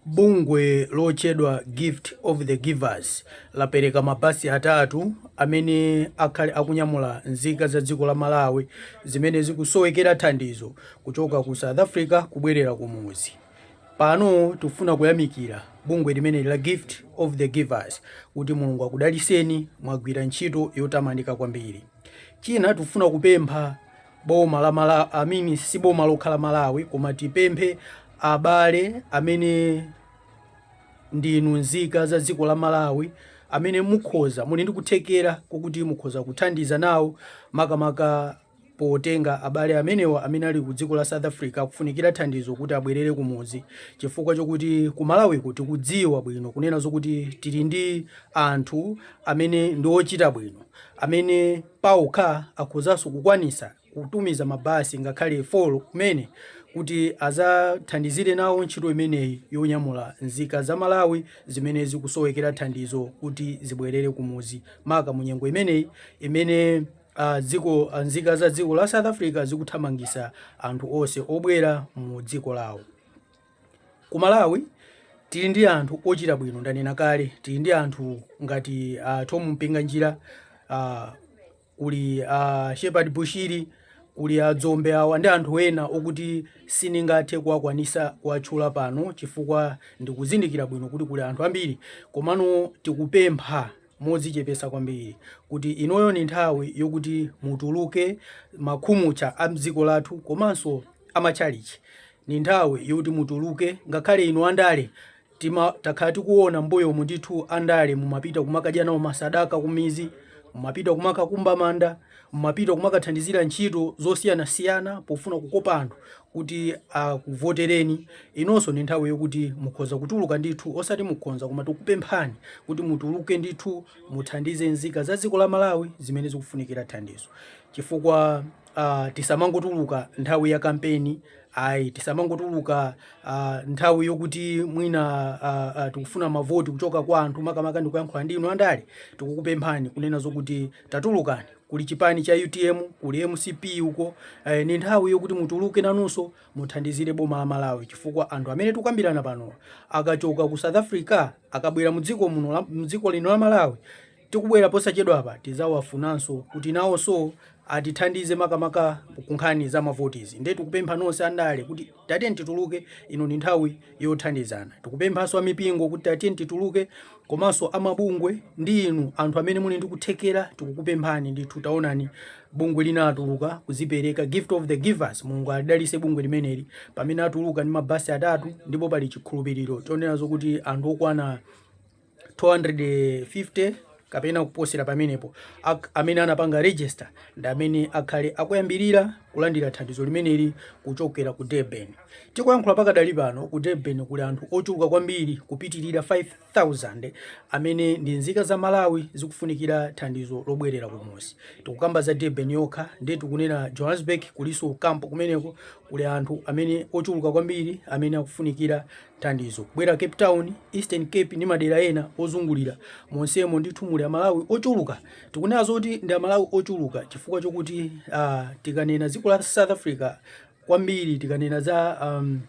Bungwe lotchedwa Gift of the Givers lapereka mabasi atatu amene akhale akunyamula nzika za dziko la Malawi zimene zikusowekera thandizo kuchoka ku South Africa kubwerera kumuzi. Pano tufuna kuyamikira bungwe limeneli la Gift of the Givers kuti Mulungu akudaliseni mwagwira ntchito yotamandika kwambiri. China tufuna kupempha boma la Malawi, I mean, si boma lokha la Malawi koma tipemphe abale amene ndinu nzika za dziko la Malawi amene mukhoza muli ndi kuthekera kokuti mukhoza kuthandiza nawo makamaka potenga abale amenewa amene ali ku dziko la South Africa akufunikira thandizo kuti abwerere kumuzi chifukwa chokuti ku Malawiko tikudziwa bwino kunena zokuti tili ndi anthu amene ndi ochita bwino amene paokha akhozanso kukwanisa kutumiza mabasi ngakhale 4 kumene kuti azathandizire nawo ntchito imeneyi yonyamula nzika za Malawi zimene zikusowekera thandizo kuti zibwerere kumuzi maka munyengo imeneyi imene a dziko nzika za dziko la South Africa zikuthamangisa anthu onse obwera mu dziko lawo. Ku Malawi tili ndi anthu ochita bwino, ndanena kale tili ndi anthu ngati a uh, Thom Mpinganjira uh, kuli a uh, Shepherd Bushiri kuli a Dzombe awa ndi anthu ena okuti siningathe kuwakwanisa kuwatchula pano chifukwa ndikuzindikira bwino kuti kuli anthu ambiri, komano tikupempha modzichepesa kwambiri kuti inoyo ni nthawi yokuti mutuluke makhumutcha a mdziko lathu komanso a matchalitchi. Ni nthawi yokuti mutuluke ngakhale inu andale tima takhala tikuona mbuyomu ndithu andale mumapita kumakadya nawo masadaka kumizi mumapita kumakakumba manda mumapita kumakathandizira ntchito zosiyanasiyana pofuna kukopa anthu kuti akuvotereni inonso ni nthawi yokuti mukhoza kutuluka ndithu osati mukhonza koma tikupemphani kuti mutuluke ndithu muthandize nzika za dziko la malawi zimene zikufunikira thandizo chifukwa uh, tisamangotuluka nthawi ya kampeni ayi tisamangotuluka uh, nthawi yokuti mwina uh, uh, tikufuna mavoti kuchoka kwa anthu makamaka ndikuyankhula ndi inu andale tikukupemphani kunena zokuti tatulukani kuli chipani cha utm kuli mcp uko eh, ni nthawi yokuti mutuluke nanunso muthandizire boma la malawi chifukwa anthu amene tukambirana pano akachoka ku south africa akabwera mudziko muno la- mudziko lino la malawi tikubwera posachedwa apa tizawafunanso kuti nawonso atithandize makamaka kunkhani za mavotizi nde tikupempha nonse andale kuti Tatiyeni tituluke, ino ndi nthawi yothandizana. Tikupemphanso a mipingo kuti tatiyeni tituluke komanso a mabungwe ndi inu anthu amene muli ndi kuthekera tikukupemphani ndithu taonani bungwe lina latuluka kuzipereka gift of the givers mulungu alidalise bungwe limeneli pamene atuluka ndi mabasi atatu ndipo pali chikhulupiriro chonena zokuti anthu okwana 250 kapena kuposera pamenepo amene anapanga register ndi amene akhale akuyambirira kulandira thandizo limeneli kuchokera ku Durban. Tikuyankhula pakadali pano ku Durban kuli anthu ochuluka kwambiri kupitirira 5000 amene ndi nzika za Malawi zikufunikira thandizo lobwerera kumuzi. Tikukamba za Durban yokha nde tikunena Johannesburg kulinso kampo kumeneko kuli anthu amene ochuluka kwambiri amene akufunikira thandizo kubwera Cape Town, Eastern Cape ndi madera ena ozungulira monsemo ndithu muli amalawi ochuluka tikunena zoti ndi amalawi ochuluka chifukwa chokuti uh, tikanena dziko la South Africa kwambiri tikanena za um,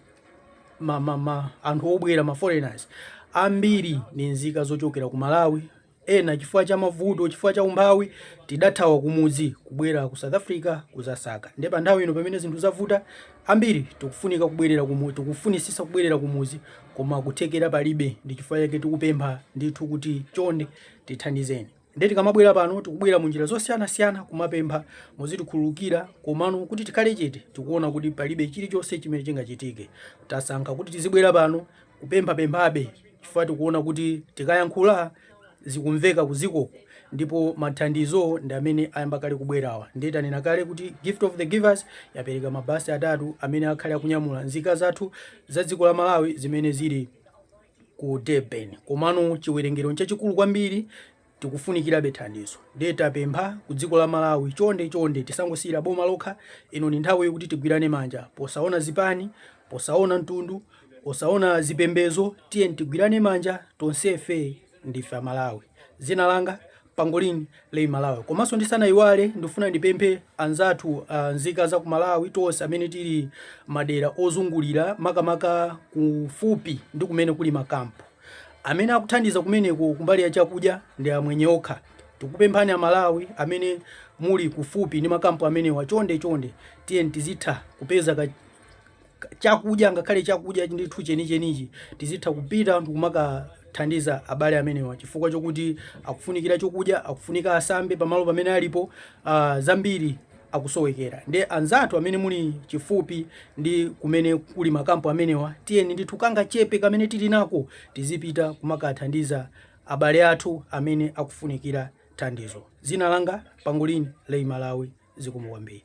ma, ma, ma, anthu obwera ma foreigners ambiri ni nzika zochokera ku Malawi Ena chifukwa cha mavuto, chifukwa cha umphawi tidathawa kumudzi kubwera ku South Africa kuzasaka. Nde panthawi ino pamene zinthu zavuta, ambiri tikufunika kubwerera kumudzi, tikufunitsitsa kubwerera kumudzi koma kuthekera palibe ndi chifukwa chake tikupempha ndithu kuti chonde tithandizeni. Nde tikamabwera pano tikubwera munjira zosiyanasiyana kumapempha muzitikhululukira komano kuti tikhale chete tikuona kuti palibe chilichonse chimene chingachitike. Tasankha kuti tizibwera pano kupemphapemphabe chifukwa tikuona kuti tikayankhula zikumveka kudzikoko ndipo mathandizo ndi amene ayamba kale kubwerawa ndiye tanena kale kuti gift of the givers yapereka mabasi atatu amene akhale akunyamula nzika zathu za dziko la malawi zimene zili ku durban komano chiwerengero nchachikulu kwambiri Tikufunikirabe thandizo nde tapempha ku dziko la Malawi chonde chonde tisangosiyira boma lokha ino ndi nthawi yokuti tigwirane manja posaona zipani, posaona mtundu, osaona zipembezo tiyeni tigwirane manja tonsefe ndife a Malawi. Dzina langa Pangolin Lay Malawi. Komanso ndisanaiwale ndifuna ndipemphe anzathu nzika za ku Malawi tonse amene tili madera ozungulira makamaka kufupi ndi kumene kuli makampu. Amene akuthandiza kumeneko kumbali ya chakudya ndi amwenye okha. Tikupemphani a Malawi amene muli kufupi ndi makampu amenewa chonde chonde tiyeni tizitha kupeza chakudya ngakhale chakudya ndithu chenichenichi tizitha kupita ndikumakathandiza abale amenewa chifukwa chokuti akufunikira chokudya akufunika asambe pamalo pamene alipo uh, zambiri akusowekera nde anzathu amene muli chifupi ndi kumene kuli makampu amenewa tiyeni ndithu kangachepe kamene tili nako tizipita kumakathandiza abale athu amene akufunikira thandizo dzina langa pangolin lay malawi zikomo kwambiri